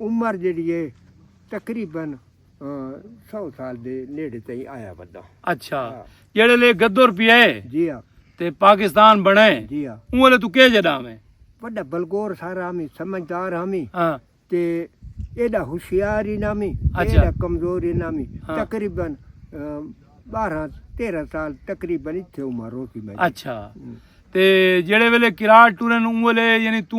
عمر جیڑھی ہے تقریبا سو سال دے نیڑے تئیں آیا ودا اچھا جیڑے لے گدر پیا ہے جی ہاں تے پاکستان بنے جی ہاں اون لے تو کے جڑا میں وڈا بلگور سارا ہمیں سمجھدار ہمیں ہاں تے ایڈا ہوشیار ہی نامی اچھا۔ ایڈا کمزور ہی نامی ہاں۔ تقریبا بارہ تیرہ سال تقریبا اتھے عمر ہو سی میں اچھا تے جیڑے ویلے کراٹ ٹورن اون ویلے یعنی تو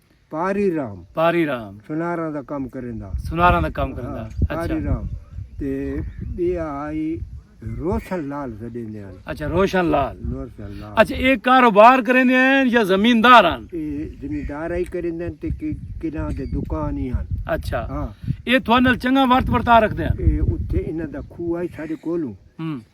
پاری رام پاری رام سناراں دا کم کریندا سناراں دا کم کریندا اچھا پاری رام تے بی آئی روشن لال سڈیندے ہیں اچھا روشن لال روشن لال اچھا یہ کاروبار کریندے ہیں یا زمیندار ہیں یہ زمیندار ہی کریندے ہیں تے کنا دے دکان ہی ہیں اچھا ہاں یہ تھوڑا نال چنگا ورت ورتا رکھدے ہیں یہ اتھے انہاں دا کھو آئی ساڑے کولوں ہم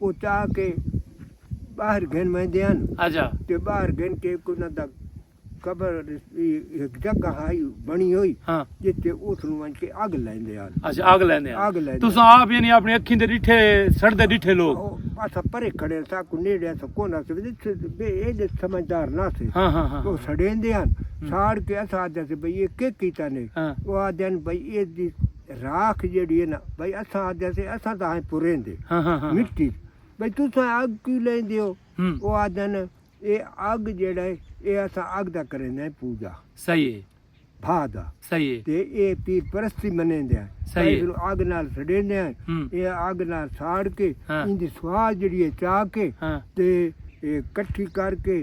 او چاہ کے باہر گھن ویندے ہن۔ اچھا۔ تے باہر گھن کے ہک انہاں دا قبر ہک جگہ ہئی بنی ہوئی۔ ہاں۔ جتھے اوتھ نوں ونج کے اگ لیندے ہن۔ اچھا اگ لیندے ہن۔ اگ لیندے۔ تساں آپ یعنی اپنی اکھیں دے ڈٹھے سڑدے ڈٹھے لوگ۔ اساں پرے کھڑے ہن ساکوں نیڑے اساں کون ہس ویندے تھے بے ایڈے سمجھدار نہ سے۔ ہاں ہاں ہاں۔ او سڑیندے ہن۔ ساڑ کے اساں آدھے سے بھئی اے کے کیتا نے۔ ہاں۔ او آدھے ہن بھئی اے دی۔ راکھ جیڑھی ہے نا بھئی اساں آدھیا سے اساں تاں ہیں پریندے مٹی بھئی تساں اگ کیوں لیندے ہو او آدھن اے اگ جیڑھا ہے اے اساں اگ دا کریندے ہیں پوجا صحیح ہے بھا دا صحیح ہے تے اے پیر پرستی منیندے ہیں صحیح ہے اینوں اگ نال سڑیندے ہیں اے اگ نال ساڑ کے ایندی سوال جیڑھی ہے چا کے تے کٹھی کر کے